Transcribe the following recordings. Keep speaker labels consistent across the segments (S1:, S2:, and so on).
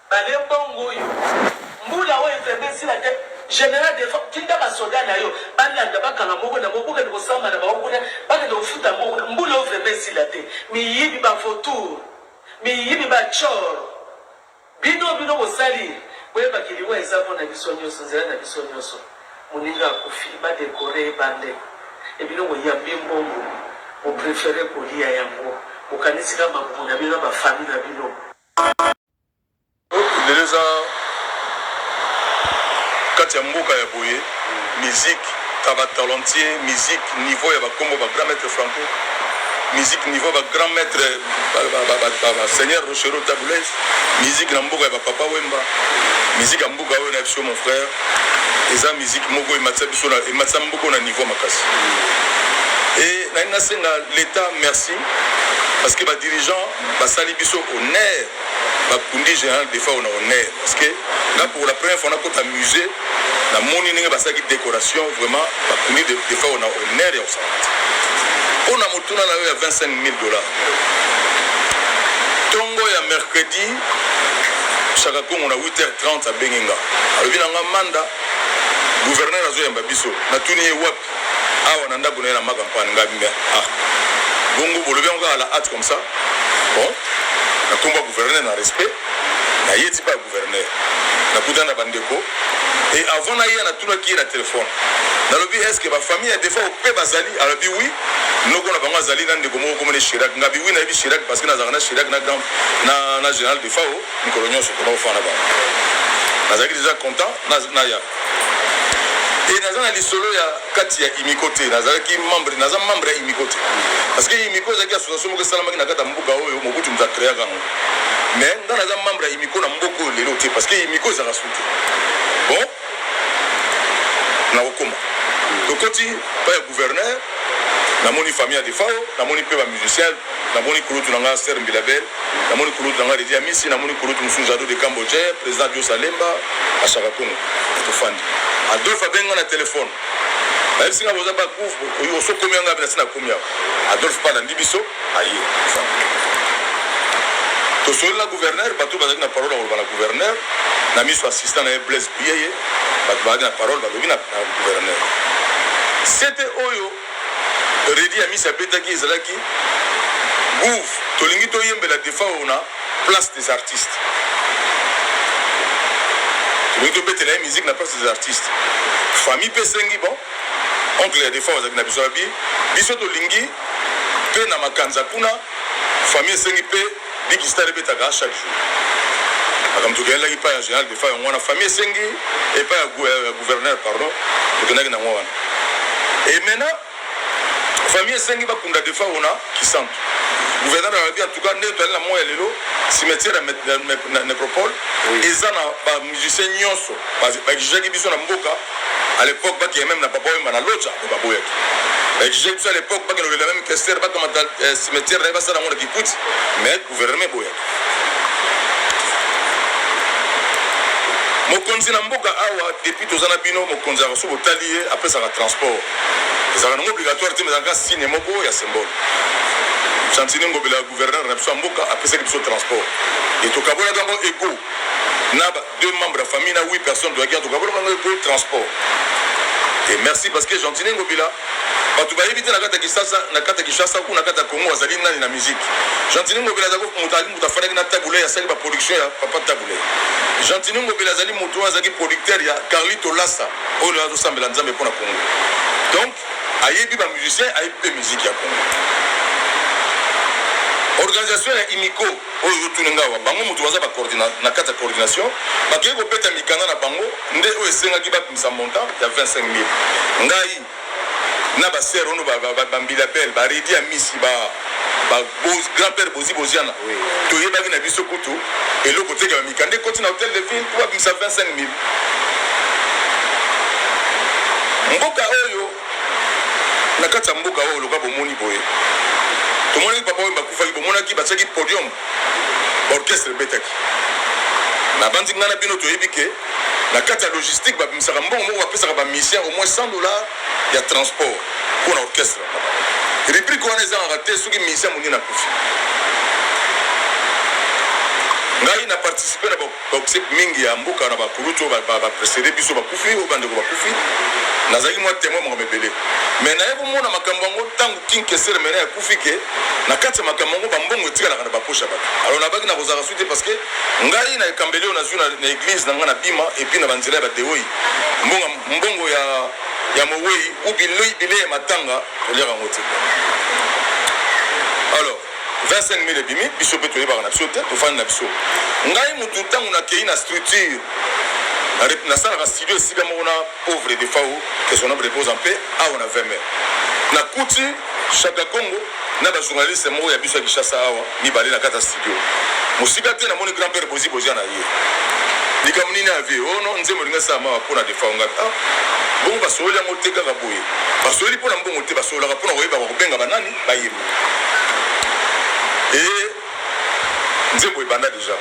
S1: Bale mbongo oyo mbula oyo nzemba esila te general defense tinda ba soda nayo ba landa ba kanga moko na moko bo kende ko samba na bango kuna ba kende ko futa mbongo na mbula oyo vrement esila te miyibi ba vautour miyibi ba tshor bino bino bosali boyeba ki liwa eza pona biso nioso nzela na biso nioso. Moninga akufi ba decorer ye bande et bino boyambi mbongo bo preferer kolia yango bokanisi kaka mabumu na bino na ba famille
S2: na bino. Lelo eza Kati ya mboka ya boye musique ka ba talentier musique niveau ya ba kombo ba grand maitre franco musique niveau ba grand maitre ba seigneur rochereau tabu ley musique na mboka ya ba papa wemba musique ya mboka Mboka oyo na biso mon frère eza musique moko ematisa biso na ematisa mboko na niveau makasi. Et na ina senga l'État merci parce que ba dirigeants basali biso honneur ba kundi général defa on a honneur parce que là pour la première fois na kota musée na moni ndenge basaki décoration vraiment ba kundi defa on a honneur ya osala. Pona motuna na yo ya 25000 dollars. Tongo ya mercredi Shaka Kongo na 8h30 abengi nga alobi na nga Manda gouverneur azoyamba biso natuni ye wapi awa na ndako na ye na Makampane nga me ah bongo bolobi yango kaka la hate comme ça bon na kombo ya gouverneur na respect naye ti pa ya gouverneur nakutana na bandeko e avant naya natunaki ye na telefone nalobi eske bafamille ya defa ope bazali alobi wi Noko na bango azali na ndeko moko kombo ne Chirac. Ngabi, oui nayebi Chirac parce que nazalaka na Chirac na grand na na General Defao mikolo nyonso pona kofanda bango. Nazalaki deja content na na ya et naza na lisolo ya kati ya Imiko te. Nazalaki membre, naza membre ya Imiko te. Parce que Imiko ezalaki association moko esalamaki na kati ya mboka oyo Mobutu moto akreaka yango. Mais nga naza membre ya Imiko na mboka oyo lelo te parce que Imiko ezalaka suki. Bon, nakokoma tokoti pa ya gouverneur namoni famille ya defao namoni mpe bamusicien namoni kulutu na nga ser mbilabel namoni kulutu na nga redi amisi namoni kulutu mosusu jado de cambodge président dios alemba ashaka congo tofandi adolphe abenga na telefone nayebisi nga boza bakufu osokomi yanga nasi nakomi yao adolphe mpe alandi biso Aye nzambe tosoleli na gouverneur bato bazali na parole ya koloba na gouverneur na miso assistant na ye blaise buyeye bato bazali na parole balobi na gouverneur sete oyo redi ya misi abetaki ezalaki gouv tolingi toyembela defa oyo na place des artistes tolingi tobetela ye musique na place des artistes famille mpe esengi bon Oncle ya defunt azalaki na biso abi biso tolingi pe na makanza kuna famille esengi pe big star ebetaka chaque jour makambo tokendaki pa ya general defunt yango wana famille esengi epa ya gouverneur pardon tokendaki na yango wana e maintenant famille esengi bakunda defunt ona kisantu gouverneur alobi en tout cas nde toyali na moi ya lelo cimetière ya necropole eza na bamusicien nyonso bajugaki biso na mboka A l'epoque ba keya meme na papa wemba na lodja mais ba boyaki. Ba exige biso a l'epoque ba kende kolela meme kester ba kamata eh, cimetière na ye ba sala yango na kikuti mais gouvernement eboyaki. mokonzi na mboka awa depuis toza na bino mokonzi yaka soki botali ye apesaka transport ezalaka nango obligatoire te ezalaka signe moko ya symbole santini ngobela gouverneur na biso ya mboka apesaki biso transport e tokabolaka yango ego na deux membres ya famille na huit personnes toyaki en tout cas bolonga ngai po transport et merci parce que Gentine Ngobila bato bayebi te na kati ya Kinshasa na kati ya Kinshasa ou na kati ya Congo azali nani na musique Gentine Ngobila azali moto azali moto afandaki na Tabule asali ba production ya papa Tabule Gentine Ngobila azali moto oyo azalaki producteur ya Carlito Lassa oyo lelo azosambela Nzambe mpo na Congo donc ayebi ba musicien ayebi mpe musique ya Congo organisation ya Imiko Oyo ozo tuna nga awa bango mutu baza ba coordina na kati ya coordination ba kei ko beta mikanda na bango nde oyo esengaki ba bimisa montant ya 25000 ngai na ba sœur ono ba ba ba mbila belle ba redi ya misi ba ba boz grand père bozi boziana to yebaki na biso kutu eloko te ke ba mikanda ekoti na hotel de ville po ba bimisa 25000 mboka oyo na kati ya mboka oyo loka bomoni boye tomonaki papa oyo bakufaki bomonaki batiaki podium orchestre ebetaki nabanzi ngai na bino toyebi ke na kati ya logistique babimisaka mbongo moko bapesaka bamisien au moins 100 dollar ya transport mpo na orchestre rubrike wana ezangaka te soki misien monini akufi ngai na participe na Toxic mingi ya mboka na ba kulutu oyo ba ba precede biso bakufi oyo bandeko bakufi nazalaki mua temoin makambo ebele mais naye komona makambo yango tango king kesser mena ya kufi ke na kati ya makambo yango ba mbongo etikalaka na ba poche ya batu alors na baki na kozaka suite parce que ngai na ekambeli oyo nazui na, na eglise na ngai na bima et puis na banzela ya badeoi mbongo mbongo ya ya mowei ou bilei bilei ya matanga koliaka yango te alors 25000 ebimi biso pe toyebaka na biso te tofandi na biso ngai mutu tangu nakeyi na structure nasalaka studio esika moko na pauvre defau que son homme repose en paix awa na 20 mai nakuti shaka congo na ba journaliste moko ya biso ya kishasa awa mibale na kati ya studio mosika te namoni grand père bozi bozi na ye likambo nini ya vie oyo oh no nzembo elingi esala mawa mpo na defau ngai ah, bongo basololi yango te kaka boye basololi mpo na mbongo te basololaka mpo na koyeba kobenga banani Bayemba ee nzembo ebanda dejà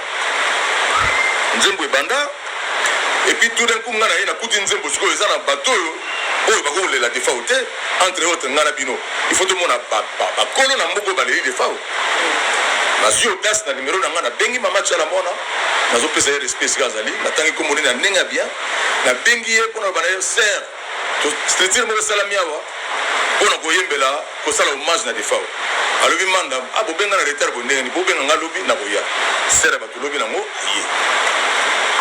S2: nzembo ebanda epuis tout d'un coup nga naye nakuti nzembo sikoyo eza na bato oyo oyo bakoki kolela defao te entre autres nga na bino il faut tomona bakolo na mboka oyo baleli defao nazwi audace na nimero na nga nabengi mama chala mwana nazopesa ye respect esika azali natangi kombo nini na ndenge ya bien nabengi ye mpo na bana ye ser Structure moko esalami awa pona koyembela kosala hommage na defao alobi manda ah bobenga na retard bo ndenge bobenga nga lobi na koya sere bato lobi nango aye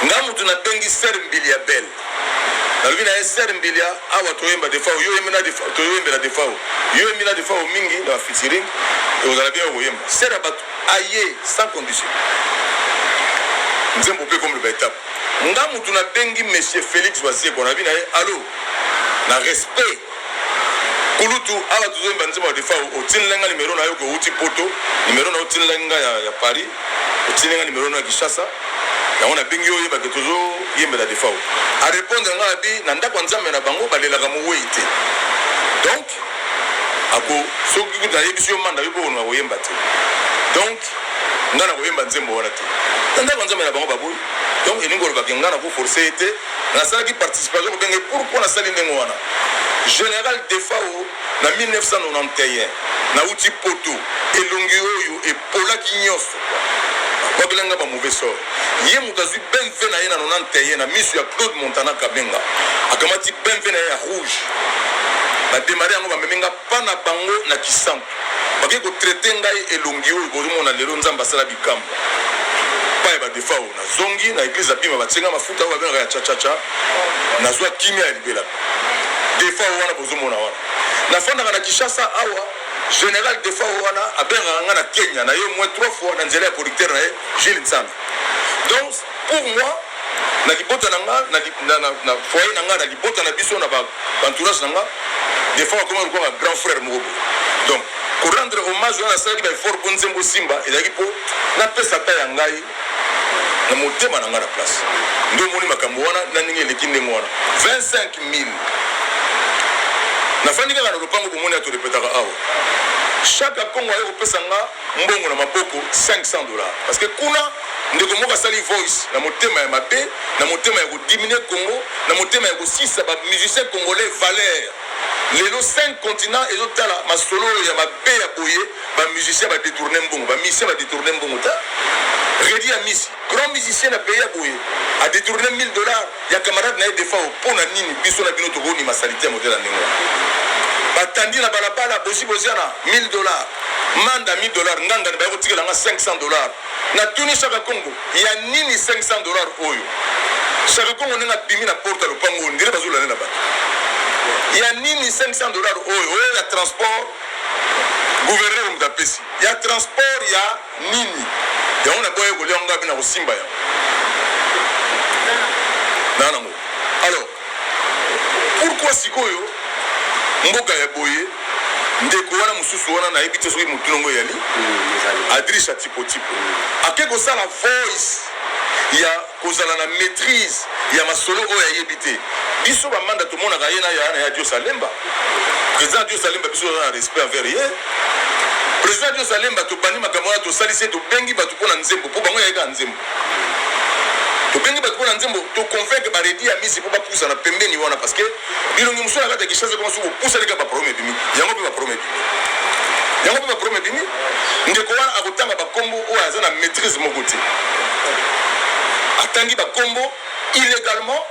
S2: nga mutu na bengi sere mbili ya belle nalobi na ye sere mbili ya awa toyemba defao yo yembi na defao toyembela defao yo yembi na defao mingi na featuring ekozala bien okoyemba sere bato aye sans condition nzembo pe comme le ba etape Nga mutu na bengi monsieur Felix Wazekwa na bina ye allo na respect kulutu awa tozo yemba nzembo ya defao otinela nga numero na yo ko outi poto numero na yo otinela nga ya, ya paris otinela nga numero na ya kinshasa yango na bengi yo oyeba ke tozo yembela defao arepondre nga abi na ndako ya nzambe na bango balelaka mowei te donc ako soki kutu ayebisi yo manda yo mpe okonoka koyemba te donc ngai nakoyemba nzembo wana te na ndako ya nzambe na bango baboyi donc elingi kolobaka ngai nakoforce ye te nasalaki participation kobenge pourkui nasali ndenge wana général defao na 1991 nauti poto elongi oyo Olaki nionso ba bela nga ba mauvais sort ye mutu azui bmv na ye na 91 na misu ya Claude Montana Kabenga akamati bmv na ye ya rouge ba demarrer yango ba memi nga pa na bango na kisantu bakeyi ko traiter ngai elongi oyo bozo mona lelo nzambe asala bikamwa pa ya ba defao na zongi na eglise na bima ba tie nga mafuta oyo ba bengaka ya chachacha nazua kimia ya libela defao wana bozo mona wana na fandaka na Kinshasa awa General Defao wana abengaka nga na Kenya na ye moins trois fois na nzela ya producteur na ye Jules Nsana. Donc pour moi na libota na nga na, li- na, na, na foyer na nga na libota na biso na ba ba entourage na nga Defao akomaki lokola nga grand frère moko boye. Donc ko rendre hommage wana nasalaki ba effort mpo nzembo simba ezalaki mpo napesa ta ya ngai na motema na ngai na place nde omoni makambo wana na ndenge eleki ndenge wana 25000 nafandi kaka na lopango bomoni ya torepetaka awa chaque akongo aye kopesa nga mbongo na maboko 500 dollars parce que kuna ndeko moko asali voice na motema ya mabe na motema ya kodiminue congo na motema ya kosisa bamusicien congolais valeur Lelo cinq continents ezo tala masolo oyo ya mabe ya boye ba musiciens ba detourner mbongo ba musiciens ba detourner mbongo ta Reddy Amisi grand musicien na pays ya boye a detourner 1000 dollars ya camarade na ye Defao mpo na nini biso na bino toko nima salite ya modèle ya ndenge wana batandi na balabala bosi boziana 1000 dollars manda 1000 dollars ngangani baye kotikela nga 500 dollars Na tuni shaka kongo ya nini 500 dollars oyo shaka kongo ndenge abimi na porte ya lopango oyo ndire bazo lande na bato ya nini 500 dollars oyo oyo ya transport gouverneur moto apesi ya transport ya nini yango na boye kolia ngo ape na kosimba yango na nango Pourquoi sikoyo mboka ya boye ndeko wana mususu wana nayebi te soki motuna ngo eyali adrisha tipotipo ake kosala voice ya kozala na maîtrise ya masolo oyo ayebi te biso bamanda tomonaka ye na ya na ya dios alemba président dios alemba biso toza na respect envers ye président dios alemba tobandi makambo wana tosalisi ye tobengi bato mpo na nzembo mpo bango yayekaka nzembo tobengi bato mpo na nzembo toconvaincre baredi ya misi mpo bapusana pembeni wana parce que bilongi mosusu na kati ya kishasa koma soki opusani kaka baproblème ebimi yango mpe baproblème ebimi yango mpe baproblème ebimi ndeko wana akotanga bakombo oyo aza na maîtrise moko te atangi bakombo illégalement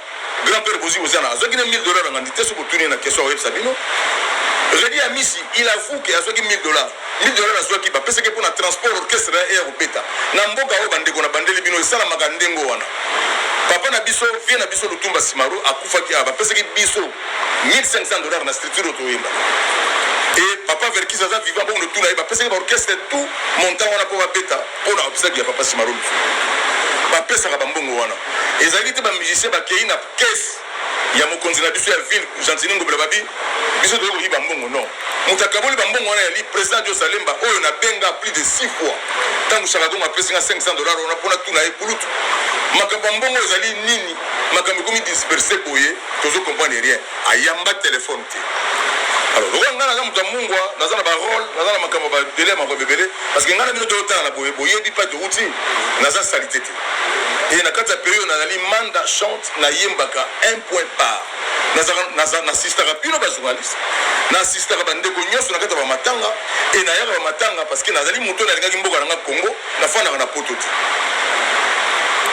S2: Grand père Bozi Boziana azwaki na 1000 dollars na ngandi te soki otuni na question oyebisa bino Redi Amisi il avoue que azwaki 1000 dollars 1000 dollars azwaki bapesaki mpo na transport orchestre na ye ya kobeta na mboka oyo bandeko na bandeli bino esalamaka ndenge wana papa na biso vie na biso lutumba simaro akufaki awa bapesaki biso 1500 dollars na structure oyo toyemba e papa verkis aza vivant bongo notuna ye bapesaki baorchestre tout montant wana mpo babeta mpo na obsèque ya papa simaro bapesaka bambongo wana Ezalaki te ba musiciens bakeyi na caisse ya mokonzi na biso ya ville Gentini Ngobila babi biso toye koyiba mbongo non. Moto akaboli ba mbongo wana yali president Joe Salemba oyo na benga plus de six fois tango Shaka Kongo apesi nga 500 dollars wana pona tuna ye kulutu makambo ya mbongo ezali nini makambo ekomi disperse boye tozo comprendre rien ayamba telefone te alors lokola ngai naza moto ya mungwa naza na barole naza na makambo babele ya makambo ebele parce que ngai na bino toyotala na boye boyebi mpa towuti naza salite te et na kati ya periode nazali manda chante na yembaka un point par nazalaka na assistaka bino ba journaliste na assistaka ba ndeko nyonso na kati ya ba matanga et na yaka ba matanga parce que nazali moto na lingaki mboka na nga Congo na fandaka na poto te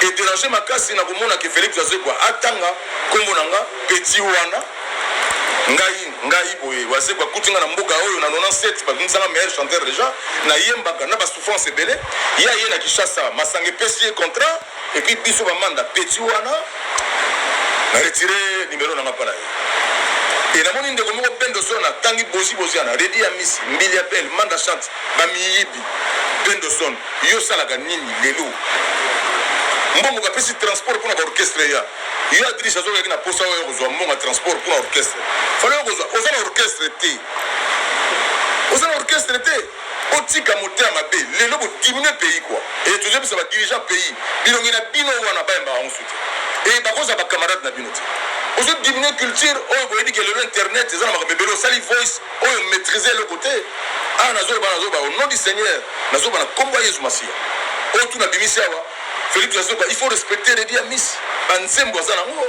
S2: et déranger makasi na komona ke Felix Azekwa atanga kombo na nga petit wana Ngai, ngai boye wazekwa bakuti nga na mboka oyo na 97 babimisa nga meilleur chanteur deja na yembaka na ba souffrance ebele ye aye na Kinshasa masanga epesi ye contrat et puis biso ba manda petit wana na retire numero na nga pa na ye e namoni ndeko moko pendo solo na tangi bozi bozi ana redi ya misi mbili ya belle manda chante bamiyibi pendo son yo osalaka nini lelo mbongo bapesi transport mpona baorchestre ya Yo Adriche azo laki na posa oya kozua mbongo ya transport pona orchestre fallait okozua oza na orchestre te oza na orchestre te botika motema mabe lelo bo diminue pays quoi et tozo bisa ba dirigeant pays bilongi na bino wana bayembaka yango su te et bakozala ba camarade na bino te ozo diminue culture oyo boyebi ke lelo internet eza na makambo ebele osali voice oyo maîtrise eloko te awa nazoloba nazoloba au nom du seigneur nazoloba na kombo ya yesu masiya oyo tu nabimisi awa Felix ya zoba, il faut respecter Reddy Amis, ba nzembo aza nango.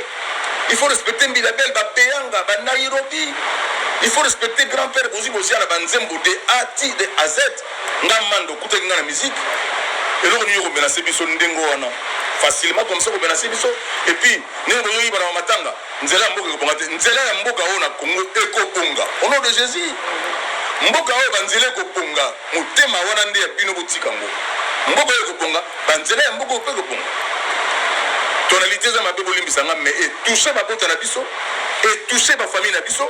S2: Il faut respecter Mbilabel, ba Beyanga, ba Nairobi. Il faut respecter grand père Bozi Bozia na ba nzembo de A ti de A Z. Nga mando kutaki nga na musique. Eloko nini ko menacer biso ndengo wana? Facilement comme ça ko menacer biso et puis nene bozo yiba na matanga. Nzela ya mboka ekobonga te. Nzela ya mboka oyo na Congo ekobonga. Au nom de Jésus. Mboka oyo ba nzela ekobonga. Motema wana nde ya bino botika ngo mboka oyo ekobonga ba nzela ya mboka oyo pe ekobonga tonalite eza mabe bolimbisa nga mais etouche babota na biso etouche ba famille na biso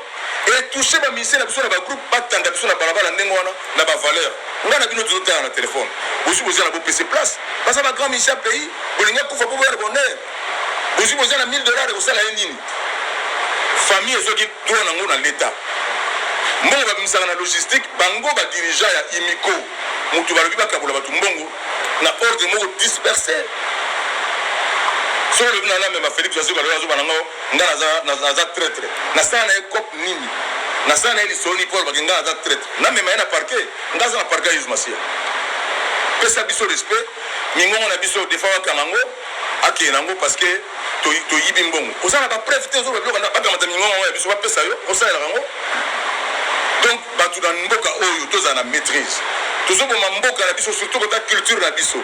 S2: etouche ba misie na biso na ba groupe batanda biso na balabala ndenge wana na ba valeur nga na bino tozotala na telefone bosi boza na bopese place baza ba grand misie ya pays bolingi akufa po boya na bonheur bozwi boza na 1000 dollars ekosala ye nini famille ezwaki droit na yango na leta mbongo babimisaka na logistique bango badirigent ya imiko moto balobi bakabola bato mbongo na ordre moko disperse soki olobi na namema félix azoka lelo azoba na ngo ngai naza traitre nasala na ye cop nini nasala na ye lisoni mpo alobaki ngai naza traitre namema ye na parke ngai aza na parke ya yesu masiya pesa biso respect mingongo na biso defa wakanga ngo Akeye nango parce que to yibi mbongo oza na ba preuve te ozoloba biloko ba kamata mingongo yango ya biso ba pesa yo osalelaka yango donc batu na mboka oyo tozala na maîtrise tozoboma mboka na biso surtout kota culture na biso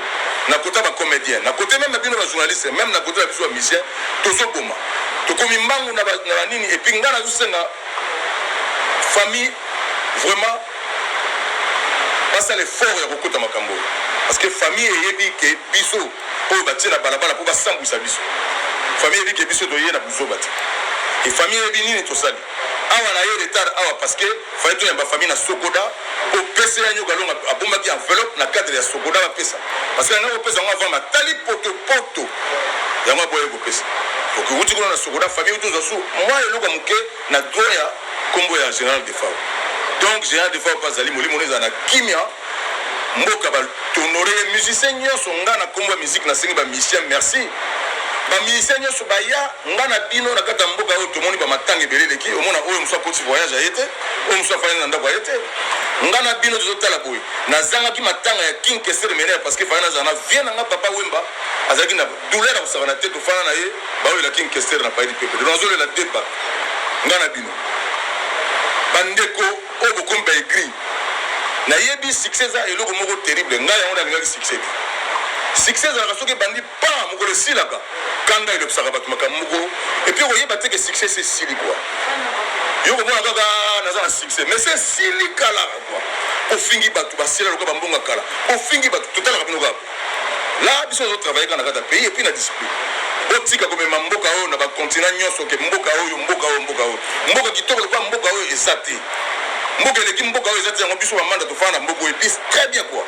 S2: na kota ba comédien na kote meme na bino ba journaliste meme na kote na biso ba musicien tozoboma tokomi mbangu na banini epuis ngai nazosenga famille vraiment basala effort ya kokota makambo oyo parce que famille eyebi ke biso oyo batie na balabala po basambwisa biso famille eyebi ke biso toye na buzoba te et famille eyebi nini tosali awa na ye retard awa parce que fallait toyamba famille na sokoda po pese ya nyoka longa abombaki enveloppe na cadre ya sokoda bapesa parce que yango kopesa yango avant matali poto poto yango aboye kopesa donc ewuti kuna na sokoda famille uti ozwa su mwa eloko ya moke na droit ya nkombo ya général defao donc général defao mpe azali molimo no ezala na kimia mboka ba tonore ye musicien nyonso nga na kombo ya musique nasengi ba musicien merci ba musicien nyonso baya nga na bino na kati ya mboka oyo tomoni ba matanga ebele eleki omona oyo mosu akoti voyage aye te oyo mosu afandi na ndako aye te nga na bino tozotala boye nazangaki matanga ya king kesere menere parce que fana nazala na vie na nga papa wemba azalaki na douleur ya kosakana te tofana na ye baolela king kesere na paidi pepe nazolela deba nga na bino bandeko Oyo bokomi ba aigris. Na yebi succès eza eloko moko terrible ngai yango na lingaki succès te. Succès ezalaka soki ebandi paa mokolo esilaka. Kanda elobisaka batu makambo moko et puis oko yeba te que succès esi esili quoi. Yo oko mona kaka aah naza na succès mais esi esili kalaa quoi. Bo fingi batu ba sila lokola ba mbongo ya kala. Bo fingi batu to talaka bino kaka boye. la biso ozo travailler kaka na kati ya pays epuis na discipline botika komema mboka oyo na bakontina nyonso ke mboka oyo mboka oyo mboka oyo mboka kitoko lokola mboka oyo eza te mboka eleki mboka oyo eza te yango biso bamanda tofanda na mboka oyo epuis très bien kua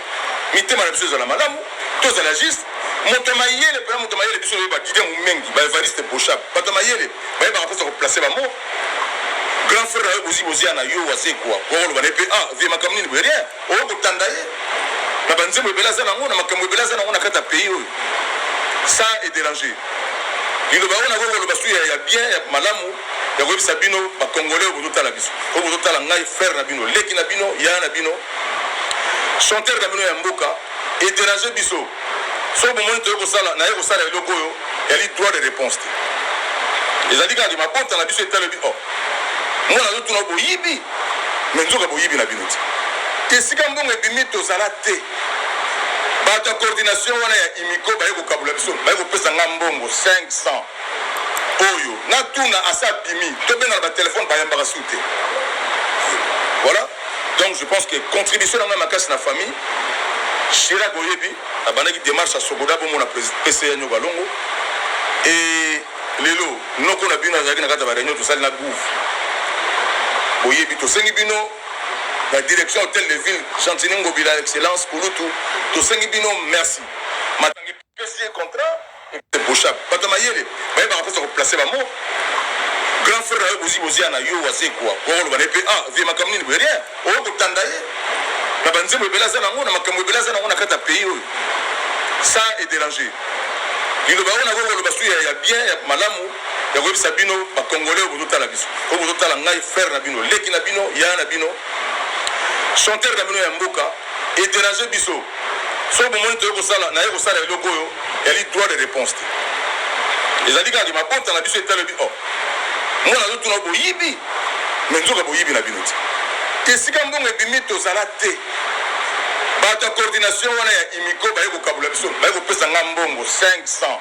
S2: mitema na biso ezala malamu tozala juste moto ya mayele mpena moto ya mayele biso oyo badide momengi baevariste boshap bato ya mayele bayebaka mposa koplace bamo grand frère na yo bozi bozi ya na yo wazekua okoloba na ye mpe ah vie makambo nini boye rien Oyo kotanda ye na ba nzembo ebele aza nango na makambo ebele aza nango na kati ya pays oyo sa e derange liloba yango nako koloba su ya ya bien ya malamu ya koyebisa bino ba congolais oyo bozotala biso oyo bozotala ngai frère na bino leki na bino yaya na bino chanteur na bino ya mboka Eterage biso soki bomoni toye kosala naye kosala eloko oyo yali droit de reponse te ezali kaka ke mabota na biso etalobi o oh, mwana azotuna boyibi me nzoka boyibi na bino te esika mbongo ebimi tozala te bato ya coordination wana ya imiko baye kokabula biso baye kopesa nga mbongo 500 oyo natuna asa bimi tobengana batelefone bayambaka su te voilà Donc je pense que contribution na ngai makasi na famille Chirac oyebi abandaki démarche ya Sogoda bomo na PCA Nyoka Longo et lelo noko na bino azalaki na kati ya ba réunion tosali na gouv boyebi tosengi bino la direction hôtel de ville Gentini Ngobila excellence Kulutu tosengi bino merci Pe signe contrat et boshab batu ya mayele bayebaka kosa ko place ba mots grand frère nayo bozi bozia nayo wazekwa oya koloba naye pe ah vieux makambo nini boye rien oya kotanda ye na ba nzembo ebele aza nango na makambo ebele aza nango na kati ya pays oyo sa e deranger liloba oyo nakoki koloba su ya ya bien ya malamu ya koyebisa bino ba congolais oyo bozotala biso oyo bozotala ngai frère na bino leki na bino yaya na bino chanteur na bino ya mboka Etenager biso. Soki bomoni toye kosala, naye kosala eloko oyo eyali droit de reponse te. Ezali kaka ke mabota na biso etali oyebi oh mwana azo tuna boyibi mais nzoka boyibi na bino te. Esika mbongo ebimi tozala te. Bato ya coordination wana ya Imico baye kokabula biso, baye kopesa nga mbongo 500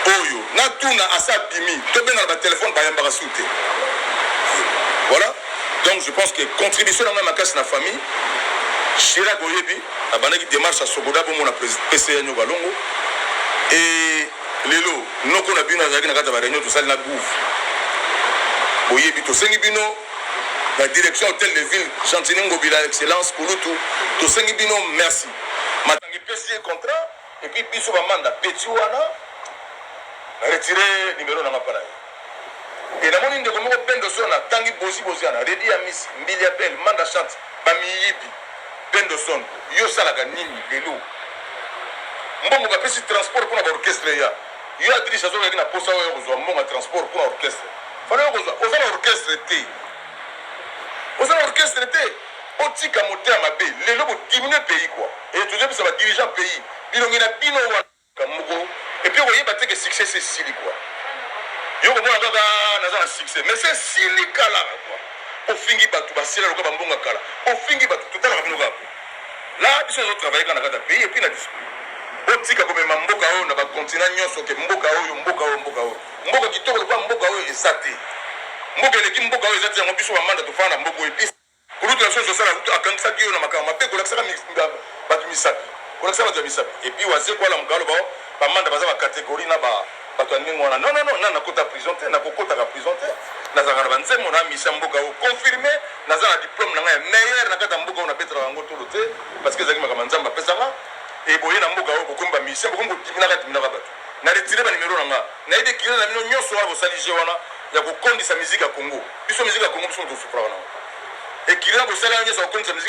S2: oyo natuna asi abimi. Tobengana ba telephone bayambaka su te. Voilà. Donc je pense que contribution na ngai makasi na famille Chirac oyebi abandaki démarche ya Sogoda bomo na PCA Nyoka Longo et lelo noko na bino azalaki na kati ya ba réunion tosali na gouv boyebi tosengi bino la direction hôtel de ville Gentini Ngobila excellence Kulutu tosengi bino merci matangi pesi contrat Et puis biso ba manda petit wana na retire numero na nga pa na ye. Et na moni ndeko moko Pendo Son na tangi Bozi Boziana, Reddy ya Miss, Mbilia Bel, Manda Chante ba miyibi. Pendo Son yo osalaka nini lelo? Mbongo ba pesi transport pona ba orchestre ya yo Adriche azo leka na posa oya kozwa mbongo ya transport pona orchestre. Fana yo kozwa oza na orchestre te. Oza na orchestre te. Botika motema mabe lelo bo diminue pays quoi et tozo yebisa ba dirigeants pays bilongi na bino wana. Likambo moko et puis okoyeba te que succès esi esili quoi yo okomona kaka aah naza na succès mais esi esili kalaa quoi bofingi batu ba sila lokola ba mbonga kala bofingi batu totalaka bino kaka boye là biso tozo travailler kaka na kati ya pays et puis na discipline botika komema mboka oyo na ba continents nionso que mboka oyo mboka oyo mboka oyo. Mboka kitoko lokola mboka oyo eza te. Mboka eleki mboka oyo eza te yango biso ba manda tofanda na mboka oyo te. Kulutu na biso Nsosala kutu akangisaki yo na makambo mabe kolakisaka batu misapi, kolakisa batu ya misapi et puis Wazekwa alamuka aloba oh ba manda baza ba categorie na ba batu ya ndenge wana non non non nanu nakota prison te nakokotaka prison te nazalaka na ba nzembo na mission ya mboka oyo confirme naza na diplome na ngai ya meilleur na kati ya mboka oyo nabetelaka yango tolo te parce que ezalaki makambo ya Nzambe apesanga et boye na mboka oyo bokomi ba musicien bokomi kodiminaka diminaka batu Na retire ba numero na nga naye de killer na bino nionso wana bosali jeux wana ya ko kondisa musique ya congo biso musique ya congo biso mutu to sukolaka na ngo ekiller bosali wana nionso ya ko kondisa musique